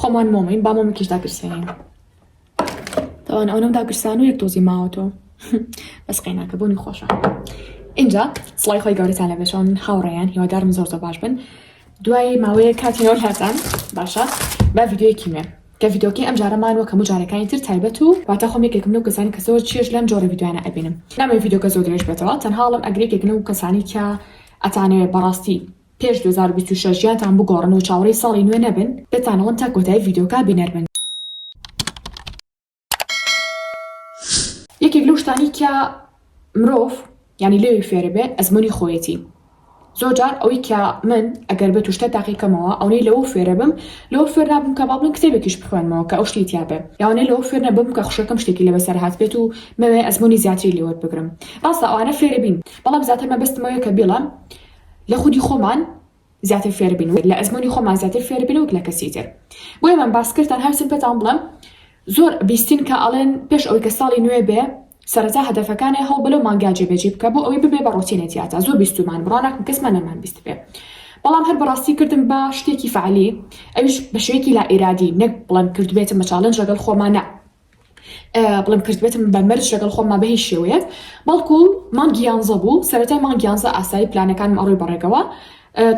خۆمان مۆمین با مۆمکیش داگرسێنین تاوان ئەونەم داگرسان و یەک تۆزی ماوە تۆ بەس قەیناکە بۆنی خۆشە اینجا سڵای خۆی گەورەتان لە بێشەوە من هاوڕێیان هیوادارم زۆر زۆر باش بن دوای ماوەیە کاتینەوە لاتان باشە با ڤیددیوەکی مێ کە ڤیدۆکی ئەم جارەمان وەکە مجارەکانی تر تایبەت و واتە خۆم یەکێکم لەو کەسانی کە زۆر چێش لەم جۆرە ڤیددیوانە ئەبینم نامێ ڤیدۆکە زۆر درێژ بێتەوە تەنهاڵم ئەگرێکێک لەو کەسانی کە ئەتانەوێ بەڕاستی پێش دوو هەزار و بیست و شەش ژیانتان بگۆڕن و چاوەڕێی ساڵی نوێ نەبن دەتانەڵێم تا کۆتایی ڤیدیۆکە بینەر بن. یەکێک لەو شتانەی کە مرۆڤ یانی لێوی فێرە بێ ئەزموونی خۆیەتی زۆر جار ئەوەی کە من ئەگەر بێت و شتە تاقیکەمەوە ئەونەی لەوە فێرە بم لەوە فێر نابم کە باڵم کتێبێکیش بخوێنمەوە کە ئەو شتی تیاابێ یاوانەی لەوە فێر نەبم کە خوشەکەم شتێکی لە بەسەر هاات بێت و مەوێ ئەزمموی زیاتری لێوەر بگرم ڕاستە ئەوانە فێرە بین بەڵام زیاتر مەبەستمەوەیە کە بیڵم لە خودی خۆمان زیاتر فێربین و لە ئەزموونی خۆمان زیاتر فێربین وەک لە کەسی تر بۆیە من باس کرد تەنها ویستم پێتان بڵێم زۆر بیستین کە ئەڵێن پێش ئەوەی کە ساڵی نوێ بێ سەرەتا هەدەفەکانێ هەوڵ بە لەو مانگا جێبەجی بکە بۆ ئەوەی ببێ بە ڕۆتینێ تیاتا زۆر بیستومان بڕوا ناکەم کەسمان نەمان بیست بێ بەڵام هەر بەڕاستی کردم بە شتێکی فعالی ئەویش بە شوێکی لا ئیرادی نەک بڵێم کردبێتم بە چاڵنج لەگەڵ خۆمانە بڵێم کردبێتم بە مەرج لەگەڵ خۆمما بە هیچ شێوەیەک بەڵکو مانگی یانزە بوو سەرەتای مانگی یانزە ئاسایی پلانەکانم ئەڕۆی بەڕێگەوە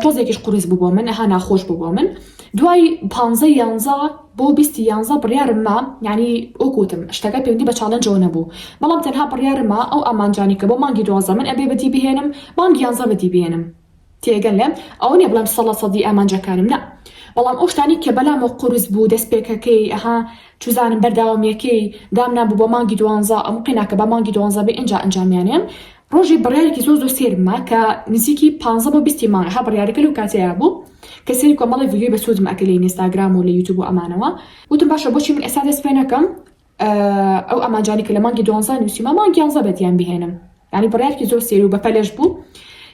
تۆزێکیش قڕیز بوو بۆ من ها ناخۆش بوو بۆ من دوای پانزە یانزە بۆ بیستی یانزە بڕیارمما ینی ئۆکوتم شتەکە پێوەندی بە چاالنجەوە نەبوو بەڵام تەنها بڕیارمما ئەو ئامانجانی کە بۆ مانگی دوازە من ئەبێ بەدی بهێنم مانگی یانزە بەدی بێنم تێگەلێم ئەوە نیە بڵێم سەڵە سەدی ئامانجەکانم نا بەڵام ئەو شتانەی کە بەلامەوە قورس بوو دەست پێکەکەی ئەها چوزانم بەرداوامیەکەی دام نابوو بۆ مانگی دوانزە ئەم قیناکە بە مانگی دوانزە بێ ئینجا ئەنجامیانێم ڕۆژی بڕیارێکی زۆر زۆر سێرم ما کە نزیکی پانزە بۆ بیستی مانگ ها بڕیارەکە لەو کاتەیە بوو کە سێری کۆمەڵی ڤیدیۆی بەسوودم ئەکرد لە ئینستاگرام و لە یوتوب و ئەمانەوە وتم باشە بۆچی من ئێستا دەست پێ نەکەم ئەو ئامانجانی کە لە مانگی دوانزە نووسیمە مانگ یانزە بەدیان بهێنم یعنی بڕیارکی زۆر سێری و بەپەلش بوو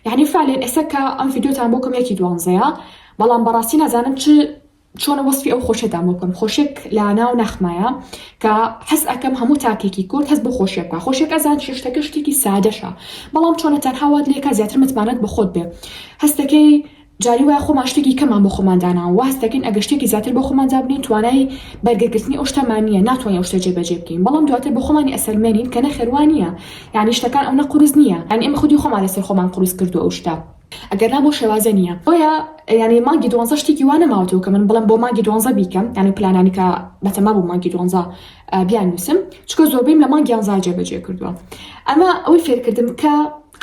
یعنی فالێن ئێستا کە ئەم یددیوتان بۆ کەمێکی دوانزەیە بەڵام بەڕاستی نازانم چ چۆنە وەسفی ئەو خۆشێتان بۆ بکەم خۆشێک لە ناو نەخمایە کە حەز ئەەکەم هەموو تاکێکی کورد هەست بۆ خۆشیە بکە خۆشێک ئەزان شتەکە شتێکی سادەشە بەڵام چۆنە تەنها وات لێکا زیاتر متمانەت بە خۆت بێ هەستەکەی جاری وایە خۆمان شتێکی کەمان بۆ خۆمان داناوە واهەست دەکەین ئەگەر شتێکی زیاتر بۆ خۆمان دابنێین توانای بەرگەگرتنی ئەو شتەمان نییە ناتوانین ئەو شتە جێبەجێ بکەین بەڵام دواتر بە خۆمانی ئەسەلمێنین کە نەخێر وا نییە یانی شتەکان ئەونە قورس نییە یانی ئێمە خودی خۆمان لەسەر خۆمان قورس کردووە ئەو شتە ئەگەرنا بۆ شێوازە نییە بۆیە یانی مانگی دوانزە شتێکی وا نەماوەتەوە کە من بڵێم بۆ مانگی دوانزە بیکەم یانی پلانانی کە بەتەما بووم مانگی دوانزە بیاننووسم چکە زۆربەیم لە مانگی یانزا جێبەجێ کردووە ئەمە ئەوەی فێرکردم کە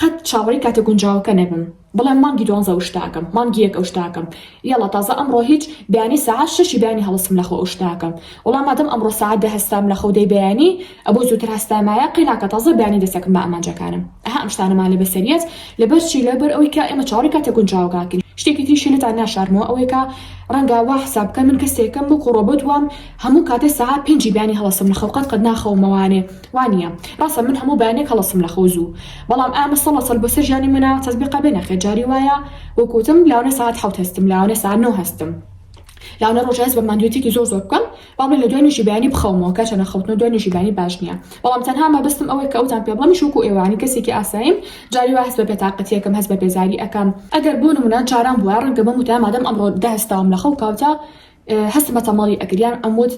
قەت چاوەڕێی کاتە گونجاوەکە نەبم بڵێم مانگی دوانزە ئەو شتاکەم مانگی یەک ئەو شتاکەم یەڵا تازە ئەمڕۆ هیچ بەیانی سەعات شەشی بەیانی هەڵستم لەخەو ئەو شتاکەم وەڵا مادەم ئەمڕۆ سەعات دە هەستام لەخەو دەی بەیانی ئەبۆ زووتر هەستایمایە قەی ناکا تازە بەیانی دەسەکم بە ئامانجەکانم ئەها ئەم شتانەمان لە بەسەریەت لەبەر چی لەبەر ئەوەی کە ئێمە چاوەڕی کاتە گونجاوەکانکەین شتێکی تریشی لێتان ناشارمەوە ئەوەیە کە ڕەنگە وا حساب بکەن من کەسێکم وەکو ڕۆبۆت وام هەموو کاتێ سەعات پێنجی بەیانی هەڵەستم لەخەو قەت قەت ناخەومەوانێ وانیە ڕاسە من هەموو بەیانێک هەڵەسم لەخەو زوو بەڵام ئامە سەڵە سەل بەسەر ژیانی منە تەزبیقە بێ نەخێر جاری وایە وەک وتم لاونە سەعات حەوت هەستم لاونە سەعات نۆ هەستم لاونە ڕۆژە هەست بە ماندوێتیکی زۆر زۆر بکەم بەڵێ لە دوای نوێژی بەیانی بخەومەوە کەچە نەخەوتنەوە دوای نوێژی بەیانی باش نیە بەڵام تەنها مەبەستم ئەوەیە کە ئەوتان پێ بڵێم شوکو ئێوانی کەسێکی ئاساییم جاری وا هەست بە بێتاقەتیەکەم هەست بە بێزاری ئەکەم ئەگەر بۆ نمونە جاران بوایە ڕەنگە بەم وتایە مادەم ئەمڕۆ دە هەستاوم لەخەو کاوتا هەستم بە تەماڵی ئەکرد یان ئەموت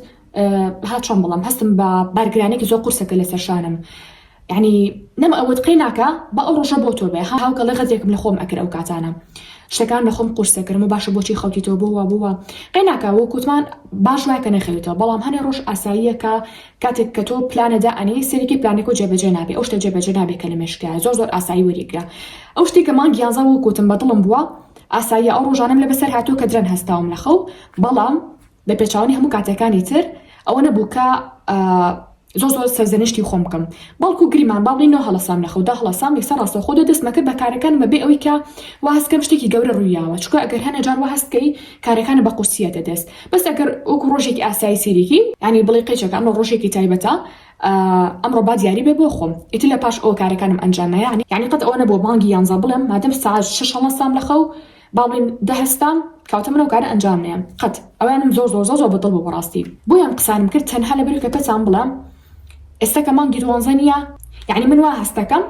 ها چۆن بڵم هەستم بە بارگرانێکی زۆر قورسەکە لەسەر شانم ینی نەم ئەوەت قەی ناکە بە ئەو ڕۆژە بۆ تۆ بێ ها هاوکەڵە غەزێکم لە خۆم ئەکرد ئەو کاتانە شتەکان لە خۆم قورسەکرم و باشە بۆچی خەوتی تۆ بووە بووە قەی ناکە و کووتمان باش وایکە نەخەوێتەوە بەڵام هەنێ ڕۆژ ئاساییەکە کاتێک کە تۆ پلانەدا ئەنی سەرێکی پلانێک و جێبەجێ نابێ ئەو شتە جێبەجێ نابێ کە لە مشکە زۆر زۆر ئاسایی وەریگرە ئەو شتێکە مانگی یانزە و کووتم بە دڵم بووە ئاساییە ئەو ڕۆژانم لە بەسەر هاتوو کە درەن هەستاوم لە خەو بەڵام لە پێچەوانەی هەموو کاتەکانی تر ئەوە نەبوو کە زۆر زۆر سەرزەنشتی خۆم بکەم بەڵکو گریمان با بڵێنەوە هەڵەسام لە خەودا هەڵەسام یەکسەر ڕاستەوخۆ دە دەستمە کرد بە کارەکانمە بێ ئەوەی کە وا هەست بکەم شتێکی گەورە ڕوویاوە چونکە ئەگەر هەنێ جار وا هەست بکەی کارەکانت بە قورسییەتە دەست بەس ئەگەر وەکو ڕۆژێکی ئاسایی سەیریکی یانی بڵێ قەیچەکە ئەمڕۆ ڕۆژێکی تایبەتە ئەمڕۆ با دیاری بێ بۆ خۆم ئیتر لە پاش ئەو کارەکانم ئەنجام نایە یانی قەت ئەوە نەبووە بانگی یانزە بڵێم مادەم سەعات شەش هەڵەسام لە خەو باڵین دەهەستام کەواتە من ئەو کارە ئەنجام نەیەم قەت ئەوانم زۆر زۆر زۆر زۆر بە دڵ بوو بەڕاستی بۆیە ئەم قسانەم کرد تەنها لەبەر ئەوکە پێتان بڵێم ئێستا کە مانگی دوانزە نییە یەعنی من وا هەست دەکەم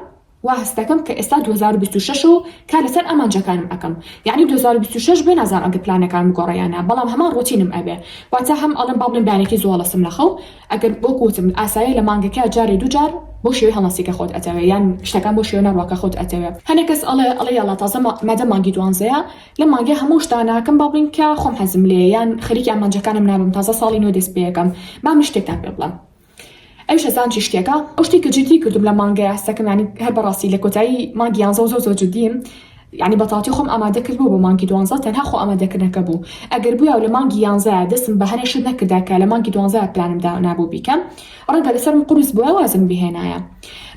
وا هەست دەکەم کە ئێستا دوو هەزار و بیست و شەش و کار لەسەر ئامانجەکانم ئەکەم یەعنی دوو هەزار و بیست و شەش بێ نازانم ئەگەر پلانەکانم بگۆڕێ یان نا بەڵام هەمان ڕۆتینم ئەبێ واتە هەم ئەڵێم با بڵێم بەیانێکی زوو هەڵەسم لە خەو ئەگەر وەکو وتم ئاسایە لە مانگەکە جارێ دوو جار بەو شێوەی هەڵناسی کە خۆت ئەتەوێ یان شتەکان بەو شێوە نەڕوا کە خۆت ئەتەوێ هەنێ کەس ئەڵێ ئەڵێ یاڵا تازە مادەم مانگی دوانزەیە لەم مانگە هەموو شت داناکەم با بڵێین کە خۆم حەزم لێیە یان خەریکی ئامانجەکانم نابم تازە ساڵی نوێ دەست پێیەکەم با من شتێکتان پێ بڵێم ئەویش هەزان چی شتێکە ئەو شتی کە جدی کردم لە مانگە یاسەکەم یانی هەر بەڕاستی لە کۆتایی مانگی یانزە و زۆر زۆر جدیم یانی بەتاڵتی خۆم ئامادە کردبوو بۆ مانگی دوانزە تەنها خۆ ئامادە کردنەکە بوو ئەگەر بویا و لە مانگی یانزەیا دەستم بە هەنێ شت نەکردا کە لە مانگی دوانزەیا پلانم دانابوو بیکەم ڕەنگە لەسەرم قورس بویا وازم بهێنایە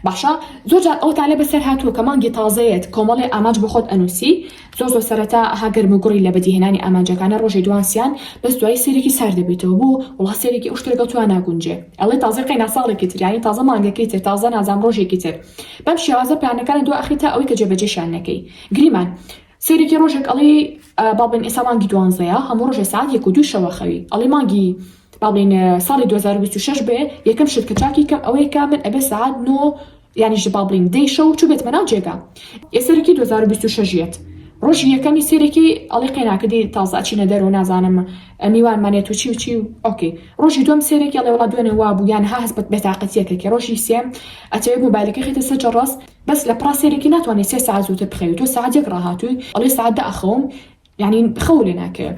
باشە زۆر جار ئەوەتان لێ بەسەر هاتووە کە مانگی تازەیەت کۆمەڵێ ئامانج بۆ خۆت ئەنووسی زۆر زۆر سەرەتا ها گەرم و گوڕی لە بەدیهێنانی ئامانجەکانە ڕۆژێ دوان سیان بەس دوایی سەیرێکی سار دەبیتەوە بۆ وڵا سەیرێکی ئەو شتە لەگەڵ توا ناگونجێ ئەڵێ تازە قەینا ساڵێکی تر یانی تازە مانگەکەی تر تازە نازام ڕۆژێکی تر بەم شێوازە پلانەکانت دوا ئەخەی تا ئەوەی کە جێبەجێشیان نەکەی گریمان سەیرێکی ڕۆژێک ئەڵێ بابلین ئێسا مانگی دوانزەیە هەموو ڕۆژێ سعات یەک و دوو شەوە خەوی ئەڵێ مانگی بابلین ساڵی 2026 بێ یەکەم شت کە چاکی کەم ئەوەیە کە من ئەبێ سعات نۆ یعنی ژ بابلین دەی شەو چوو بێتمە ناو جێگا ئێ سەرێکی 2026 یەت ڕۆژی یەکەمی سێرێکی ئەڵێ قەینا کردی تازە ئەچینە دەرەوە نازانم میوان مانێ تو چی و چی و ئۆکەی ڕۆژی دوم سێرێکی ئەڵێ وەڵا دوێنێ وابوو یان ها هەست بە بێتاقەتیەکەکی ڕۆژی سێم ئەتەوێ موبایلەکەی خێتە سەر جەڕەس بەس لە پڕا سێرێکی ناتوانێ سێ سەعات زووتر بخەوی تۆ سەعات یەک ڕاهاتووی ئەڵێ سەعات دە ئەخەوم یعنی خەو لێ ناکەوێ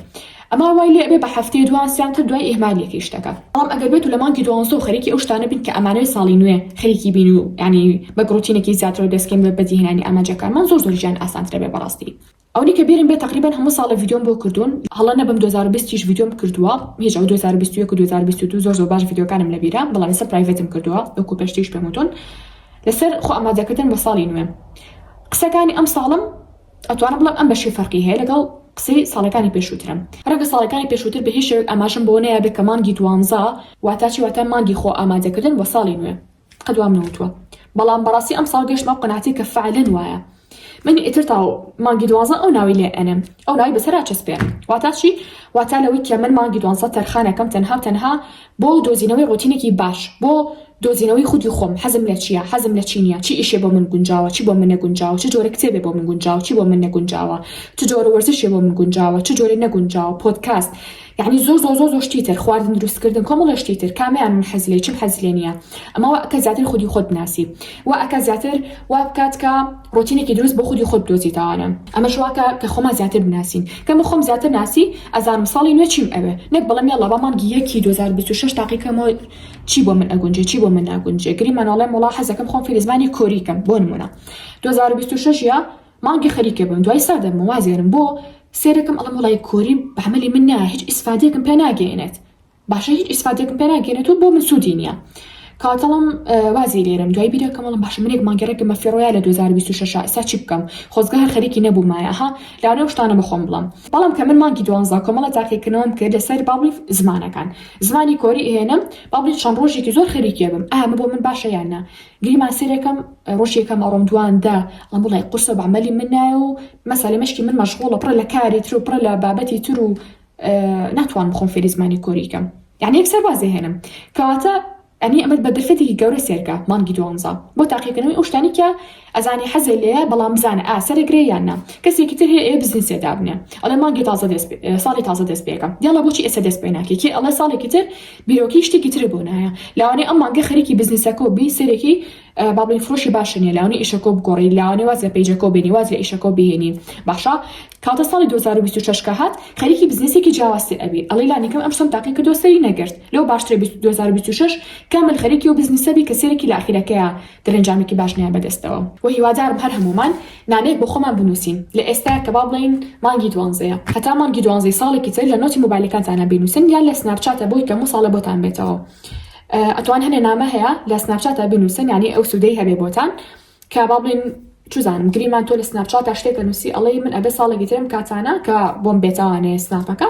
ئەما وای لێ ئەبێ بە هەفتەیە دوان سێیان تر دوای ئیهمالیەکەی شتەکە بەڵام ئەگەر بێتو لە مانگی دوانزە و خەریکی ئەو شتانە بین کە ئەمانەوێ ساڵی نوێ خەریکی بین و یعنی بەگ ڕوتینێکی زیاترەوە دەستکەین بە بەدیهێنانی ئامانجەکانمان زۆر زۆر ژیان ئاسانترە بێ بەڕاستی ئەونەی کە بیرم بێت تەقریبەن هەموو ساڵێ ڤیدیۆم بۆ کردوون هەڵە نەبم دوو هەزار و بیست یش ڤیدیۆم کردووە هیچ ئەو دوو هەزار و بیست و یەک و دوو هەزار و بیست و دوو زۆر زۆر باش ڤیدیۆکانم لە بیرە بەڵام لەسەر پرایڤەتم کردووە وەکو پێشتریش پێم وتوون لەسەر خۆ ئامادەکردن بۆ ساڵی نوێ قسەکانی ئەم ساڵم ئەتوانم بڵێم ئەم بەشی فەرقی هەیە لەگەڵ قسەی ساڵەکانی پێشووترم ڕەنگە ساڵەکانی پێشووتر بە هیچ شێوەیەک ئاماژەم بۆ نەیابێت کە مانگی دوانزە واتا چی واتا مانگی خۆ ئامادەکردن بۆ ساڵی نوێ قەد وام نەوتوە بەڵام بەڕاستی ئەم ساڵ گەشتمە ئەو قەناتەی کە فعلەن وایە من ئیتر تا مانگی دوازە ئەو ناوی لێ ئەنم ئەو ناوی بەسەرا چەسپێن واتا چی واتا لەوەی کە من مانگی دوانسە تەرخانەکەم تەنها و تەنها بۆ دۆزینەوەی ڕۆتینێکی باش بۆ دۆزینەوەی خودی خۆم حەزم لە چیە حەزم لە چی نیە چی ئیشێ بۆ من گونجاوە چی بۆ من نەگونجاوە چ جۆرە کتێبێ بۆ من گونجاوە چی بۆ من نەگونجاوە چ جۆرە وەرزشێ بۆ من گونجاوە چ جۆرە نەگونجاوە پۆدکاست یەعنی زۆر زۆر زۆر زۆر شتی تر خواردن دروست کردن کۆمەڵە شتی تر کامیان من حەز لێی چیم حەز لێ نییە ئەمە وا ئەکا زیاتر خودی خۆت بناسی وا ئەکا زیاتر وا بکات کە ڕۆتینێکی دروست بۆ خودی خۆت بدۆزیتەوانە ئەمەش وا کە کە خۆمان زیاتر بناسین کە من خۆم زیاتر ناسی ئەزانم ساڵی نوێ چیم ئەوێ نەک بڵێم یەڵا با مانگی یەکی دوو هەزار و بیست و شەش تاقی کەمەوە چی بۆ من ئەگونجێ چی بۆ من ناگونجێ گریمان وەڵێم وەڵا حەزەکەم خۆم فێری زمانی کۆری کەم بۆ نموونە دوو هەزار و بیست و شەش یا مانگێ خەریکێ بم دوای سا دەبم و وازێنم بۆ سێرەکم ئەڵێم وەڵای کۆری بە عەمەلی من نایە هیچ ئیسفادێکم پێ ناگەینێت باشە هیچ ئیسفادێکم پێ ناگەینێت و بۆ من سوودی نییە کاتەڵم وازی لێرم دوای بیرەکەم وەڵم باشە منێک مانگێڕێکم بە فێڕۆیا لە 2026 ئێستا چی بکەم خۆزگە هەر خەریکی نەبوومایە ها لەوانەیە شتانە بەخۆم بڵم بەڵام کە من مانگی دوانزا کۆمەڵە تاقیکردنەوەم کرد لەسەر باڵی زمانەکان زمانی کۆری هێنم باڵی چەند ڕۆژێکی زۆر خەریکێ بم ئامە بۆ من باشە یان نا گلی ماسیرێکەم ڕۆژ یەکەم ئەڕۆم دوان دە ئەمە ڵای قورسە بە عمەلی من نایە و مەسەلە مەشکی من مەشغوڵە پڕە لە کاری تر و پڕە لە بابەتی تر و ناتوانم خۆم فێری زمانی کۆری کەم یانی یەکسەر واز هێنم کەواتە ئەنی ئەمەت بە دەرفەتێکی گەورە سێرکە مانگی دوانزە بۆ تاقیکردنەوەی ئەو شتانی کە ئەزانی حەزێ لێیە بەڵام بزانە ئا سەرەگرێ یان نا کەسێکی تر هەیە ئێ بزنسێ دابنێ ئەڵێ مانگی تازە دەست ساڵی تازە دەست پێکەم یاڵا بۆچی ئێستا دەست پێ ناکەی کێ ئەڵێ ساڵێکی تر بیرۆکەی شتێکی ترە بۆ نایە لاوانەی ئەم مانگە خەریکی بزنسەکەو بی سەرێکی بابلین فرۆشی باشە نیە لاونی ئیشەکەو بگۆڕی لاوانەی واز لە پەیجەکەو بێنی واز لە ئیشەکەو بهێنی باشە کاتە ساڵی دوو هەزار و بیست و شەش کە هات خەریکی بزنسێکی جیاوازتر ئەبی ئەڵی لانیکەم ئەم شتەم تاقی کردو سەری نەگرت لەو باشترە بیست دوو هەزار و بیست و شەش کامل خەریکی ئەو بزنسە بی کە سەرێکی لە ئاخیرەکەیە درەنجامێکی باش نایە بەدەستەوە وە هیوادارم هەر هەموومان نامەیەک بۆ خۆمان بنووسین لە ئێستایە کە با بڵێین مانگی دوانزەیە هەتا مانگی دوانزەی ساڵێکی تر لە نۆتی مۆبایلەکانتانا بینووسن یان لە سناپچاتە بۆی کە مو ساڵە بۆتان بێتەوە ئەتوان هەنێ نامە هەیە لە سناپچاتە بنووسن یانی ئەو سودەی هەبێ بۆتان کە با بڵێن چزانم گریمان تۆ لە سناپچاتە شتێکە نووسی ئەڵەی من ئەبێ ساڵێکی ترم کاتانە کە بۆم بێتوانێ سناپەکە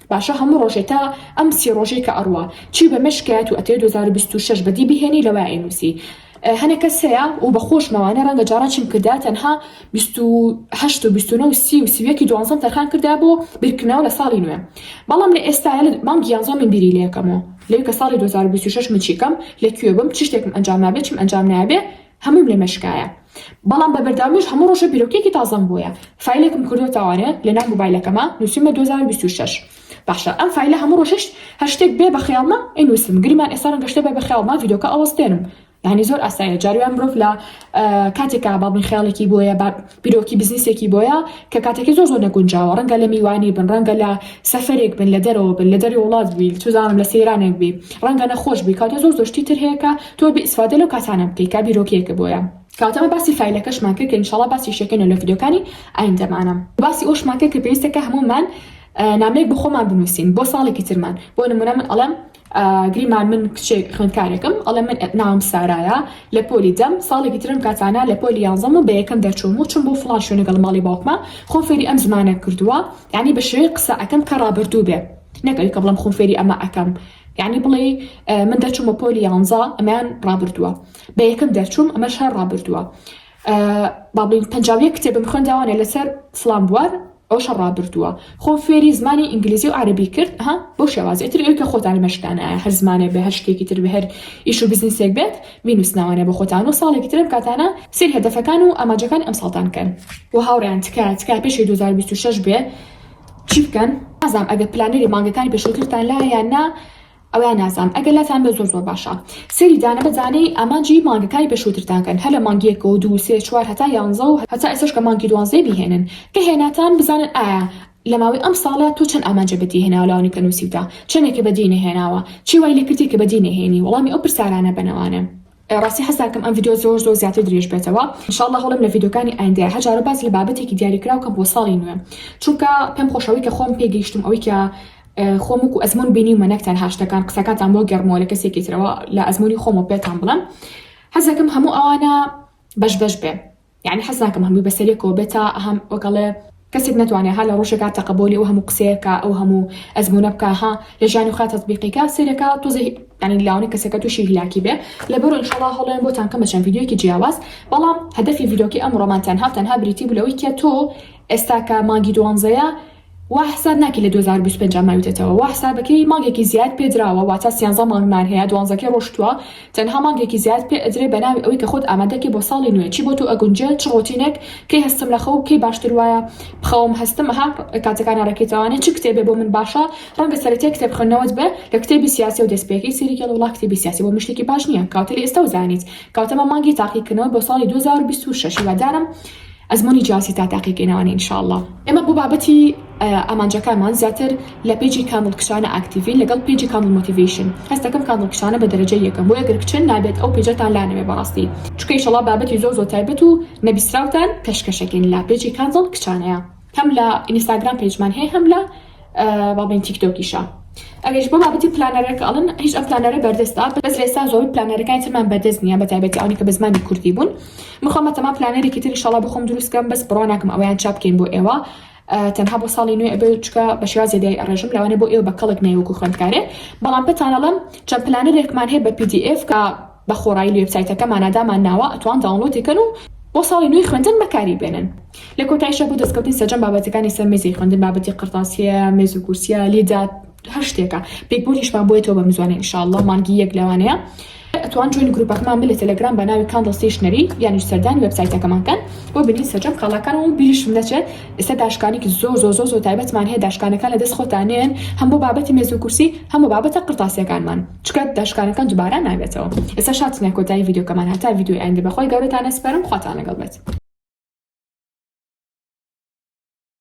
باشە هەموو ڕۆژێ تا ئەم سی ڕۆژەی کە ئەڕوا چی بە مێشک کەیە تو ئەتەوێ دوو هەزار و بیست و شەش بەدی بهێنی لەوای ئەینووسی هەنێ کەس هەیە و بە خۆش مەوانە ڕەنگە جاڕا چیم کردایە تەنها بیست و هەشت و بیست و نۆ و سی و سی و یەکی دوانزەم تەرخان کردایە بۆ بیرکردنەوە لە ساڵی نوێ بەڵام لە ئێستایە لە مانگی یانزەمین بیری لێ ئەکەمەوە لەوی کە ساڵی دوو هەزار و بیست و شەش من چی کەم لە کوێ بم چ شتێکم ئەنجام نابێ چیم ئەنجام نایابێ هەمووم لێ مەشکایە بەڵام بە بەردەوامیش هەموو ڕۆژێ بیرۆکەیەکی تازەم بۆیە فایلێکم کردۆتەوانێ لە ناو موبایلەکەما نووسیمە دوو هەزار و بیست و شەش باشە ئەم فایلە هەموو ڕۆژێش هەر شتێک بێ بە خەیاڵمە ئەینووسم گریمان ئێستا ڕەنگە شتێ بە بە خەیاڵما ڤیدۆکە ئەوەستێنم یعنی زۆر ئاساییە جارویان مرۆڤ لە کاتێکا باڵی خەیاڵێکی بۆیە بیرۆکی بزنسێکی بۆیە کە کاتەکەی زۆر زۆر نەگونجاوە ڕەنگە لە میوانی بن ڕەنگە لە سەفەرێک بن لە دەرەوە بن لە دەری وڵات بی چزانم لە سەیرانێک بی ڕەنگە نەخۆش بی کاتە زۆر زۆشتی تر هەیە کە تۆ بئیسفادە لەو کاتانە بکەی کا بیرۆکەیەکە بۆیە کاتەمە باسی فایلەکەشمان کرد کە انشاءاللە باسی شەکەنە لە ڤیدیۆکانی ئایندەمانە باسی ئەوشمان کرد کە پێویستەکە هەموومان نامەیەک بۆ خۆمان بنووسین بۆ ساڵێکی ترمان بۆ نمونە من ئەڵێم گریمان من کچێک خوێندکارێکم ئەڵێ من ناوم سارایە لە پۆلی دەم ساڵێکی ترم کاتانە لە پۆلی یانزەم و بە یەکەم دەرچووم و چم بۆ فڵان شوێنە گەڵ ماڵی باوکمە خۆم فێری ئەم زمانە کردووە یعنی بە شێوەی قسە ئەکەم کە ڕابردوو بێ نەک ئەوی کە بڵێم خۆم فێری ئەمە ئەکەم یعنی بڵێ من دەرچوومە پۆلی یانزە ئەمەیان ڕابردووە بە یەکەم دەرچووم ئەمەش هەر ڕابردووە با بڵێین پەنجا و یەک کتێبم خوێنداوانێ لەسەر فڵان بوار ئەو شە ڕابردووە خۆم فێری زمانی ئینگلیزی و عربی کرد ها بۆ شێوازی تر ئەوی کە خۆتانی مەشکانایە هەر زمانێ بە هەر شتێکی تر بە هەر ئیش و بزنسێک بێت مینوسناوانە بە خۆتان و ساڵێکی ترم کاتانە سری هەدەفەکان و ئاماجەکان ئەم ساڵتان کەن و هاوڕیان تکا تکا پێشی 2026 بێ چی بکەن ئازام ئەگە پلانەری مانگەکانی پێشووترتان لا یان نا ئەوا نازان ئەگەر لاتان بێت زۆر زۆر باشە سەیری دانە بە دانەی ئامانجی مانگەکانی پێشووترتان کەن هەر لە مانگ یەک و دوو سێ چوار هەتا یانزە و هەتا ئێستاش کە مانگی دوانزەیە بیهێنن کە هێناتان بزانن ئایا لە ماوەی ئەم ساڵە تۆ چەند ئامانجێ بە دی هێناوە لەوانەی کە نووسیوتە چەندێکی بە دی نەهێناوە چی وای لێ کردیە کە بە دی نەهێنی وەڵامی ئەو پرسارانە بەنەوانە. ڕاستی حەز داکەم ئەم ڤیدیۆ زۆر زۆر زیاتر درێژ بێتەوە ان شاء اللە هەوڵێم لە ڤیدیۆکانی ئایندەیا هەر جارە باس لە بابەتێکی دیاریکراو کەم بۆ ساڵی نوێ چونکە پێم خۆشە ئەوەی کە خۆم پێ گەیشتم ئەوەی کە خۆم وەکو ئەزمون بینیومە نەک تەنها شتەکان قسەکانتان بۆ گەڕمەوە لە کەسێکی ترەوە لە ئەزمونی خۆمەوە پێتان بڵێم حەز دەکەم هەموو ئەوانە بەش بەش بێ یەعنی حەز ناکەم هەمووی بەسەریەکەوە بێت تا هەم وەک ئەڵێ کەسێک نەتوانێ ها لە ڕۆژێکا تەقەبۆلی ئەو هەموو قسەیە کا ئەو هەموو ئەزموونە بکا ها لە ژانی خوا تەتبیقی کا سەیرە کا تۆزێ یەعنی لاوانی کەسەکە تووشی هیلاکی بێ لەبەرو ئینشەڵا هەوڵێن بۆتان کەم بە چەند ڤیدیۆیەکی جیاواز بەڵام هەدەفی ڤیدۆکەی ئەمڕۆمان تەنها و تەنها بریتی بوو لەوەی کە تۆ ئێستا کە مانگی دوانزەیە وا حساب ناکەی لە دوو هەزار و بیست و پێنج ماویتەتەوە وا حسابەکەی مانگێکی زیاد پێ دراوە واتا سیانزە مانگمان هەیە دوانزەکەی ڕۆشتوە تەنها مانگێکی زیاد پێ ئەدرێ بەناوی ئەوەی کە خۆت ئامادەکەی بۆ ساڵی نوێ چی بۆ تۆ ئەگونجێ چ ڕۆتینێک کەی هەستم لە خەو کەی باشتر وایە بخەوم هەستم ها کاتەکان ئەڕێکیتەوانێ چ کتێبێ بۆ من باشە ڕەنگە سەرەتای کتێب خوێندنەوەت بێ لە کتێبی سیاسیەوە دەست پێکەی سەیری کەڵە وڵا کتێبی سیاسی بۆ من شتێکی باش نیە کەواتە لە ئێستەوە زانیت کەواتە بە مانگی تاقیکردنەوە بۆ ساڵی دوو هەزار و بیست و شەش هیوادارم ئەزموونی جیاوازی تا تاقیگەی ناوانە ان شاءاللە. ئێمە بۆ بابەتی ئامانجەکانمان زیاتر لە پەیجی کامڵ کچانە ئاکتیڤین لەگەڵ پەیجی کامڵ مۆتیڤەیشن هەست دەکەم کامڵ کچانە بە دەرەجەی یەکەم بۆیە گەر کچن نابێت ئەو پەیجەتان لانەوێ بەڕاستی چونکە ئیشەڵا بابەتی زۆر زۆر تایبەت و نەبیستراوتان پێشکەشەکەین لە پەیجی کامڵ کچانەیە. هەم لە ئینستاگرام پەیجمان هەیە هەم لە با بڵێین تیکتۆکیشا ئەگەرش بۆ بابەتی پلانەرە کە ئەڵن هیچ ئەم پلانەرە بەردەستە بەس لێستا زۆر پلانەرەکانی ترمان بەردەست نییە بە تایبەتی ئەوانی کە بە زمانی کوردی بوون مخۆمە تەما پلانەرێکی تری شەڵا بۆ خۆم دروستکەم بەس بڕوا ناکەم ئەویان چاپ بکەین بۆ ئێوە تەنها بۆ ساڵی نوێ ئەبێ چکە بە شێواز زیادی ئەڕێژم لەوانێ بۆ ئێوە بە کەڵک نەیوەکو خوێندکارێ بەڵام پێتانەڵم چەند پلانەرێکمان هەیە بە پی دی ئێف کە بە خۆڕایی لوێبسایتەکەمانا دامان ناوە ئەتوان داونڵۆدی کەن و بۆ ساڵی نوێی خوێندن بەکاری بێنن لە کۆتایشا بۆ دەستکەوتنی سەرجەم بابەتەکانی سەر مێزی خوێندن بابەتی قەڕتاسیە مێز و کورسیە لیدا هەر شتێکە بێگبۆلیشمان بۆیەتەوە بە مزوانە ان شاء اللە مانگی یەک لەوانەیە ئەتوان جوێنی گروپەکەمان بن لە تەلەگرام بە ناوی کاندڵ ستەیشنەری یانیش سەردانی وێبسایتەکەمان کەن بۆ بینین سەرجەم کاڵاکان و بیریشم نەچێت ئێستا داشکانێکی زۆر زۆر زۆر زۆر تایبەتمان هەیە داشکانەکان لە دەست خۆتانێن هەم بۆ بابەتی مێز و کورسی هەم بۆ بابەتە قڕتاسیەکانمان چکە داشکانەکان دوبارە نابێتەوە. ئێستا شاتینە کۆتایی ڤیدیۆکەمان هەتا ڤیدیۆی ئایندە بەخوای گەورەتان ئەسپەرم خواتان لەگەڵ بێت.